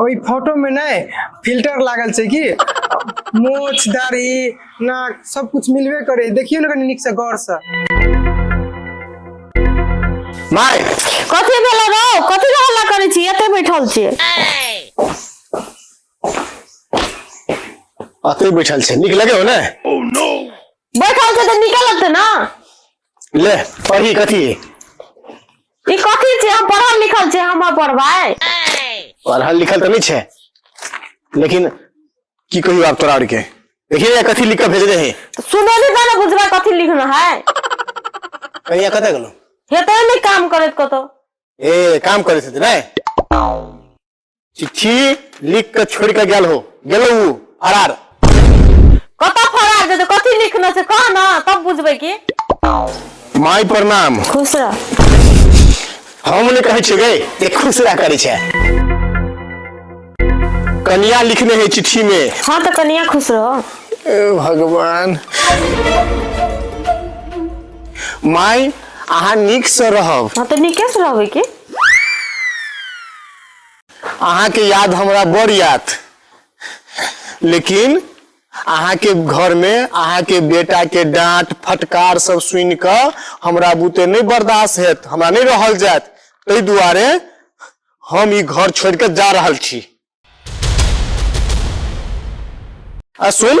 ओहि फोटो में नहीं फिल्टर लागल छै की मोछ दाढ़ी नाक सब कुछ मिलबे करे देखियो ना कनी निक से गौर से माय कथी भेलै रौ कथी के हल्ला करै छी एते बैठल छी अतै बैठल छै नीक लगे हो ने बैठल छी तऽ नीके लगतै ना ले पढ़ी कथी ई कथी छै हम पढ़ल लिखल छै हम पढ़बै पढ़ल लिखल तऽ नहि छै लेकिन की कहियो आब तोरा आरके देखिए या कथी लिख के भेज दे है सुने नहीं जाने बुझबा कथी लिखना है कहिया कतऽ गेलो हेतै नहि काम करैत कतौ ए काम करै छथिन नहि चिट्ठी लिख के छोड़ के गेल हो गेलो उ फरार कत फरार जेतै कथी लिखने छै कह ना तब बुझबै की माय प्रणाम खुश रह हम ने कहै छियै गै ते खुश रह करै छै कनिया लिखने है चिट्ठी में हाँ तो कनिया खुश रहो ए भगवान माय अहाँ नीक से रहब हाँ तो नीके से रहबै की अहाँ के याद हमरा बड़ याद लेकिन अहाँ के घर में अहाँ के बेटा के डांट फटकार सब सुन क हमरा बुते नहीं बर्दाश्त हेत हमरा नहीं रहल जात ताहि दुआरे हम ई घर छोड़ के जा रहल छी आ सुन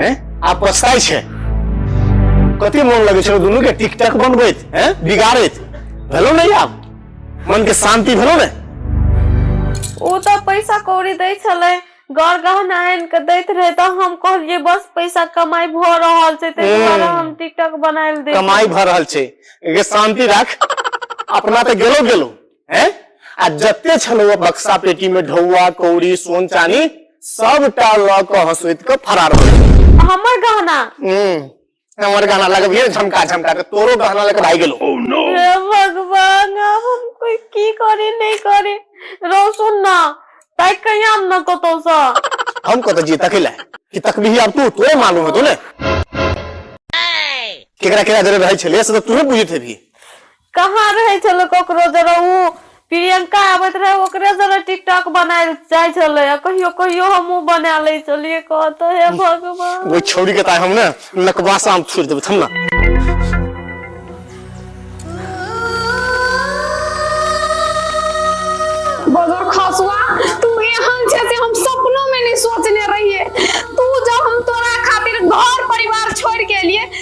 हैं आ पछताई छै कते मोन लगे छलो दुनू के टिकटक बनबैत हैं बिगाड़ैत भेलो नहीं आब मन के शांति भेलो ने ओ तो पैसा कौड़ी दै छले गौर गहना आन के दैत रहे तो हम कहलिए बस पैसा कमाई भ रहल छै ते हम्म। दुआरे हम टिकटक बनाइल दे कमाई भर रहल छै एके शांति राख अपना तो गेलो गेलो है आ जते छलौआ बक्सा पेटी में ढौआ कौड़ी सोन चानी सबटा लऽ कऽ हंसुइत के फरार हो गेल हमर गहना हम्म हमर गाना लगबिए झमका झमका के तोरो गाना लेके भाग गेलो हे भगवान आब हम कोई की करे नहीं करे रो सुन ना ताई कहीं हम न कतो सा हम कत जी तकिला कि तकबीही आब तू तोरे मालूम हेतो ने केकरा केकरा जरे रहै छले से तऽ तूहे बुझैत हेबही कहाँ रहै छलै ककरो जरा ओ प्रियंका आबैत रहे ओकरे से टिकटॉक बना जाय छले आ कहियो कहियो हमहु बना ले छी चलिये कहत हे भगवान नकबासा मे फोड़ि देबै थम ने बजर खसुआ तू एहन छै से हम सपनो में नहीं सोचने रहिए तू जब हम तोरा खातिर घर परिवार छोड़ के लिए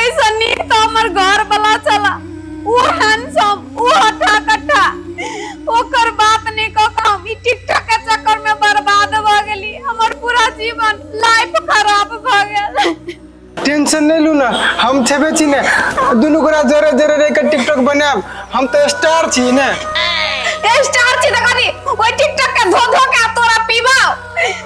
ऐसा नीक तऽ हमर घर वाला छला ओ हैंडसम ओ हटा कट्टा ओकर बात नहि कऽ कऽ हम ई टिकटॉक के चक्कर में बर्बाद भ गेली हमर पूरा जीवन लाइफ खराब भ गेल टेंशन नहीं लू ना हम छेबे छी ने दुनू गोरा जरे जरे रह के टिकटॉक बनाब हम तो स्टार छी ने ए स्टार छी त कनी ओइ टिकटॉक के धो धो के तोरा पीबाओ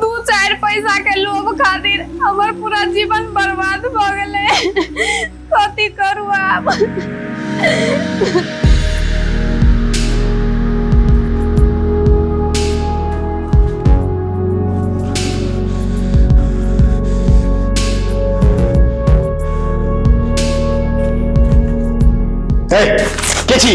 दू चारि पैसा के लोभ खातिर हमर पूरा जीवन बर्बाद भ गेलै कथी करू आब ए, के छी